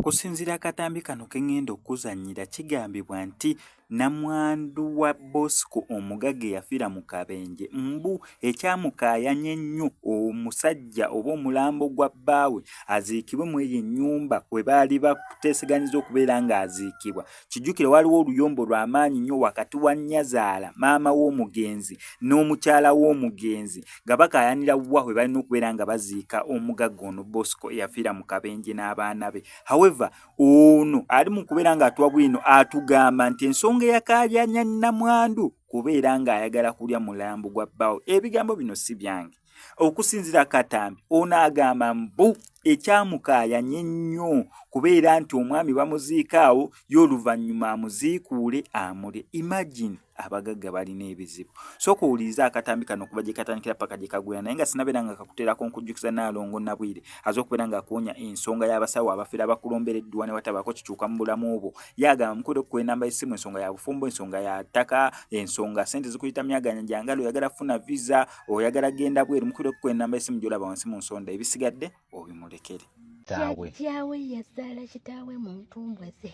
Okusinziira akatambi kano ke ngenda okuzannyira kigambibwa nti namwandu wa Bosco omugagga eyafiira mu kabenje mbu Ekyamukaayanya ennyo omusajja oba omulambo gwa bbaawe aziikibwe mu eyo ennyumba kwe baali bateeseganyiza okubeera ng'aziikibwa. Kijjukire waaliwo oluyombo lwa maanyi nnyo wakati wa nnyazaala, maama w'omugenzi, n'omukyala w'omugenzi nga bakaayanira wa we balina okubeera nga baziika omugagga ono Bosco eyafiira mu kabenje n'abaana be. However, ono ali mu kubeera ng'atuwa bwino atugamba nti ensonga eyakaayanya nnamwandu kubeera ng'ayagala kulya mulambo gwa bbaawo ebigambo bino si byange okusinzira katambi ono agamba mbu ekyamukaayanye nnyo kubeera nti omwami bamuziika awo ye oluvannyuma amuziikuule amule imagine abagagga balina ebizibu sooka owuliriza akatambi kano okuva gye katandikira paka gye kagwera naye nga sinabeera nga kakuteerako nkujjukiza naalongo nabwire aze okubeera ng'akuwonya ensonga y'abasawo abafera bakulombereddwa ne watabaako kikyuka mu bulamu obwo yagamba mukude okukuwa enamba y'essimu ensonga ya bufumbo ensonga ya ttaka ensonga sente zikuyita myaganya gyangalo oyagala funa visa oyagala genda bweru mukude okukuwa enamba y'essimu gyolaba wansi mu nsonda ebisigadde obimulekere jajjawe yazaala kitaawe mu ntumbwe ze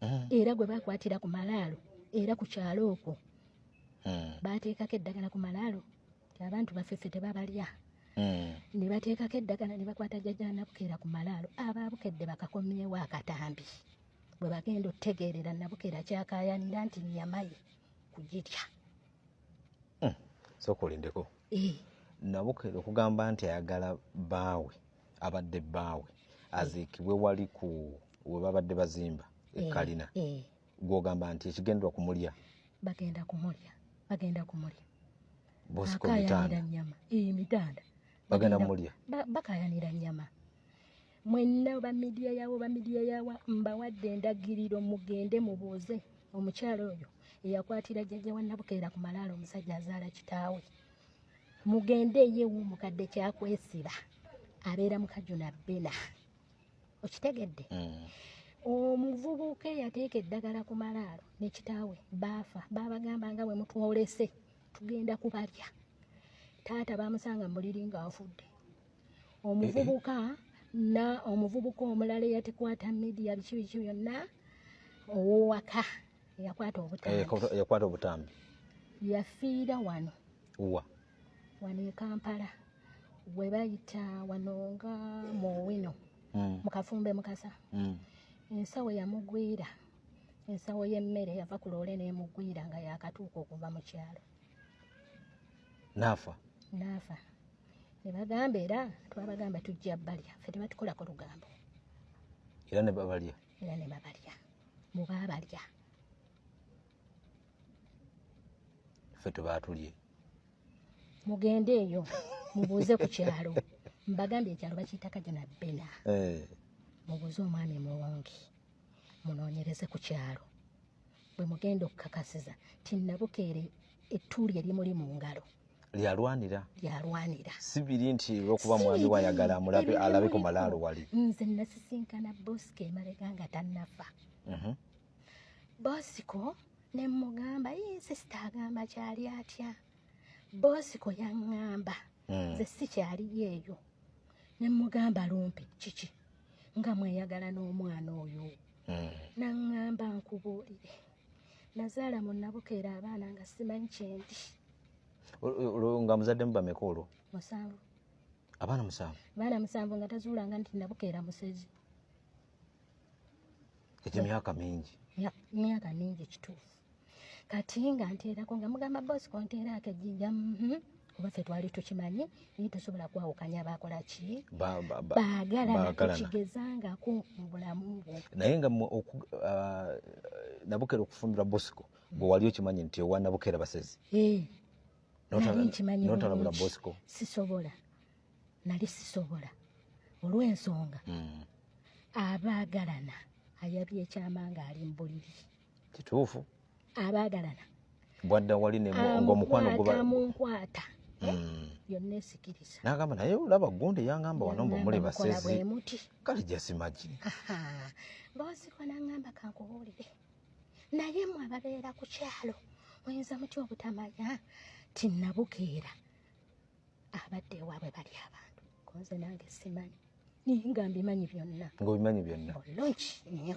hmm. era gwe bakwatira ku malaalo era ku kyalo okwo hmm. baateekako eddagala ku malaalo abantu baffe ffe tebabalya hmm. ne bateekako eddagala ne bakwata jajanabukeera ku malaalo abaabukedde bakakomyewo akatambi bwe bagenda otegeerera nabukeera kyakayanira nti nyamaye kugirya hmm. sokolindeko eh. nabukeera okugamba nti ayagala baawe abadde baawe aziikibwe wali ku webabadde bazimba ekalina eh, eh. gwogamba nti ekigendwa kumulya bagenda kumulya bagenda kumulya bosikomitanda nyama iyi mitanda bagenda kumulya bakayanira nyama mwenna ba midiya yawo ba midiya yawa mbawadde endagiriro mugende mubuuze omukyalo oyo eyakwatira jjajja wa nabukeera ku malaalo omusajja azaala kitaawe mugende eyewu mukadde kyakwesiba abeera mukajuna bena okitegedde mm. omuvubuka eyateeka eddagala ku malaalo ne kitaawe baafa baabagamba nga bwe mutwolese tugenda kubalya taata baamusanga mu buliri ng'afudde omuvubuka na omuvubuka omulala eyatekwata midiya biki biki byonna owowaka eyakwata obutambi eh, yafiira wano wano e kampala we bayita wano nga mu wino mm. mu kafumbe mukasa mm. ensawo yamugwira ensawo y'emmere yava ku loole n'emugwira nga yakatuuka okuva mu kyalo naafa naafa ne bagamba era twabagamba tujja balya fe tebatukolako lugambo era ne babalya era ne babalya mu baabalya ffe tubaatulye mugende eyo mubuuze ku kyalo mbagambye ekyalo bakiyita kajana bena eh. mubuuze omwami muwongi munoonyereze ku kyalo bwe mugenda okukakasiza nti nabukeere ettuuli erimuli mu ngalo lyalwanira lyalwanira si biri nti olwokuba mwami wayagala amulabe alabe ku malaalo wali nze nasisinkana bosika emabega nga tannafa mhm. bosiko ne mugamba ye sisita agamba kyali atya bosiko yaŋŋamba hmm. nze si kyali yeeyo ne mugamba lumpi kiki nga mweyagala n'omwana oyo hmm. naŋŋamba nkubuulire nazaala mu nabukeera abaana nga simanyi kyendi nga muzadde mu bameka olwo musanvu abaana musanvu abaana musanvu nga tazuulanga nti nabukeera musezi ekyemyaka mingi myaka mingi kituufu kati nga nteerako nga mugamba bosi konteeraako ejjinja mhm. kuba ffe twali tukimanyi naye tosobola kwawukanya bakola ki baagalanakigezangako mu bulamu bwo naye nga ah, nabukera okufumbirwa bosiko gwe wali okimanyi nti owa nabukera basezi eh, notalabula bosiko sisobola nali sisobola olw'ensonga hmm. abaagalana ayabye ekyama ng'ali mu buliri kituufu abaagalana bwadda wali ngaomukwano gubamunkwata eh? hmm. yonna esikiriza nagamba naye olaba gundi yangamba wano mbu muli basezi kale jasimagi mbawaziko nangamba kankubuulire naye mwe ababeera ku kyalo oyinza mutya obutamanya ti nabukeera abadde ewaabwe bali abantu konze nange simanyi naye nga mbimanyi byonna nga obimanyi byonna olungi nyo